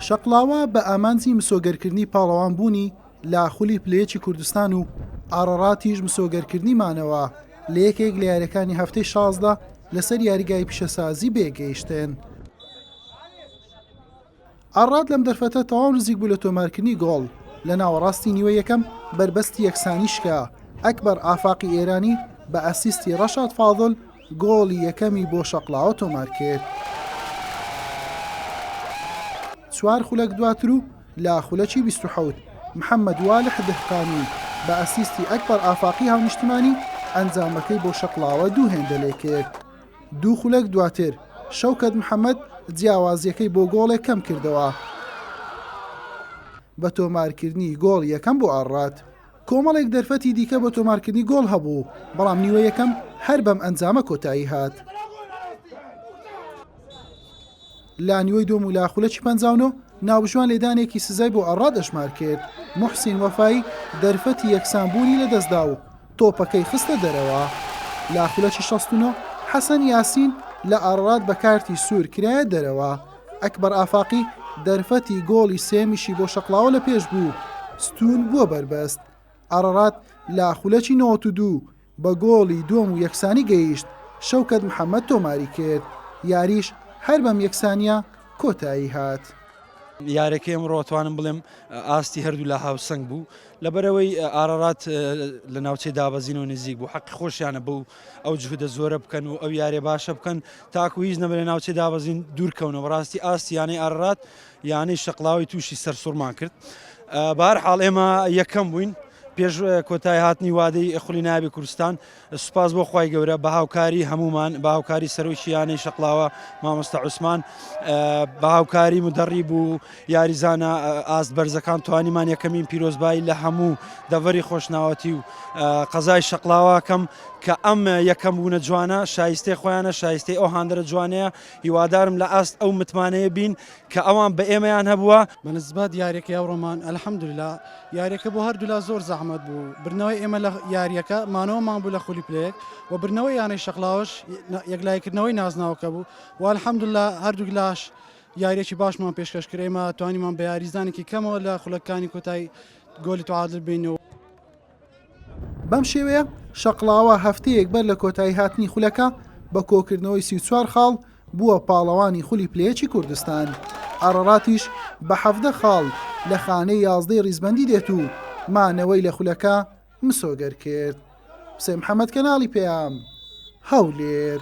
شەقڵاوە بە ئامانجی مسۆگەرکردنی پاڵەوان بوونی لە خولی پلەیەکی کوردستان و ئاڕاڕاتیش مسۆگەرکردنی مانەوە لە یەکێک لە یاریەکانی هەفتەی شازدە لەسەر یاریگای پیشەسازی بێگەیشتن. ئاڕات لەم دەرفەتە تەواو نزیک بوو لە تۆمارکردنی گۆڵ لە ناوەڕاستی نیوە یەکەم بەربەستی یەکسانیشکە ئەکبەر ئافاقی ئێرانی بە ئەسیستی ڕەشاد فاضل گۆڵی یەکەمی بۆ شەقڵاوە تۆمارکرد. چوار خولەک دواتر و لە خولەکی بیست و حەوت، محەممەد والح دهقانی بە ئەسیستی ئەکبەر ئافاقی هاونیشتمانی، ئەنجامەکەی بۆ شەقڵاوە دوو هێندە لێکرد. دوو خولەک دواتر، شەوکەت محەممەد جیاوازییەکەی بۆ گۆڵێک کەمکردەوە، بە تۆمارکردنی گۆڵی یەکەم بۆ ئاڕات. کۆمەڵێک دەرفەتی دیکە بۆ تۆمارکردنی گۆڵ هەبوو، بەڵام نیوە یەکەم هەر بەم ئەنجامە کۆتایی هات. لە نیوەی دووەم و لە خولەکی پەنجا و نۆ، ناوبژوان لێدانێکی سزای بۆ ئەڕاد ئەژمار کرد، موحسین وەفایی دەرفەتی یەکسانبوونی لەدەستدا و تۆپەکەی خستە دەرەوە. لە خولەکی شەست و نۆ، حەسەن یاسین لە ئاڕاد بە کارتی سوور کرایە دەرەوە. ئەکبەر ئافاقی دەرفەتی گۆڵی سێیەمیشی بۆ شەقڵاوە لە پێش بوو، ستوون بووە بەربەست، ئارارات لە خولەکی نەوەد و دوو بە گۆڵی دووەم و یەکسانی گەیشت، شەوکەت محەمەد تۆماری کرد، یاریش هەر بەم یەکسانییە کۆتایی هات. یارییەکەی ئەمڕۆ توانم بڵێم ئاستی هەردوولا هاوسەنگ بوو، لەبەرئەوەی ئارارات لە ناوچەی دابەزینەوە نزیک بوو، حەقی خۆشیانە بەو ئەو جهودە زۆرە بکەن و ئەو یارێ باشە بکەن تاکو هیچ نەبێ لە ناوچەی دابەزین دوورکەونەوە بەڕاستی ئاستی یانەی ئارڕات یانەی شەقڵاوی تووشی سەرسوڕمان کرد بار حاڵ ئێمە یەکەم بووین پێش کۆتای هاتنی وادەی خولی نابی کوردستان سوپاس بۆ خی گەورە بە هاوکاری هەمومان بە هاوکاری سەرۆکییانەی شەقلاوە مامۆستا عوسمان بە هاوکاری مدەڕی بوو یاریزانە ئاست بەرزەکان توانیمان یەکەمین پیرۆزبایی لە هەموو دەڤەری خۆشناوەتی و قەزای شەقلاواکەم کە ئەم یەکەم بوونە جوانە شایستەی خۆیانە شایستەی ئەو هاندەرە جوانەیە هیوادارم لە ئاست ئەو متمانەیە بین کە ئەوان بە ئێمەیان هەبووە بەنسبەت یاریەکە ئەو ڕۆمان ئەلحەمدللا یاریەکە بۆ هەردوولا زۆر زەحمەت بوو برنەوەی ئێمە لە یاریەکە مانەوەمان بوو لە خولی پلەیەک و برنەوەی یانەی شەقلاوەش یەکلایکردنەوەی نازناوەکە بوو و ئەلحەمدللا هەردوولاش یارییەکی باشمان پێشکەش کرد، ئێمە توانیمان بە یاریزانێکی کەمەوە لە خولەکانی کۆتایی گۆلی تعادل بین. بەم شێوەیە شەقڵاوە هەفتەیەک بەر لە کۆتایی هاتنی خولەکە بە کۆکردنەوەی سی و چوار خاڵ بووە پاڵەوانی خولی پلە یەکی کوردستان، ئاراراتیش بە حەڤدە خاڵ لە خانەی یازدەی ریزبەندی دێت و مانەوەی لە خولەکە مسۆگەر کرد. حوسێن محەمەد، کەناڵی پەیام، هەولێر.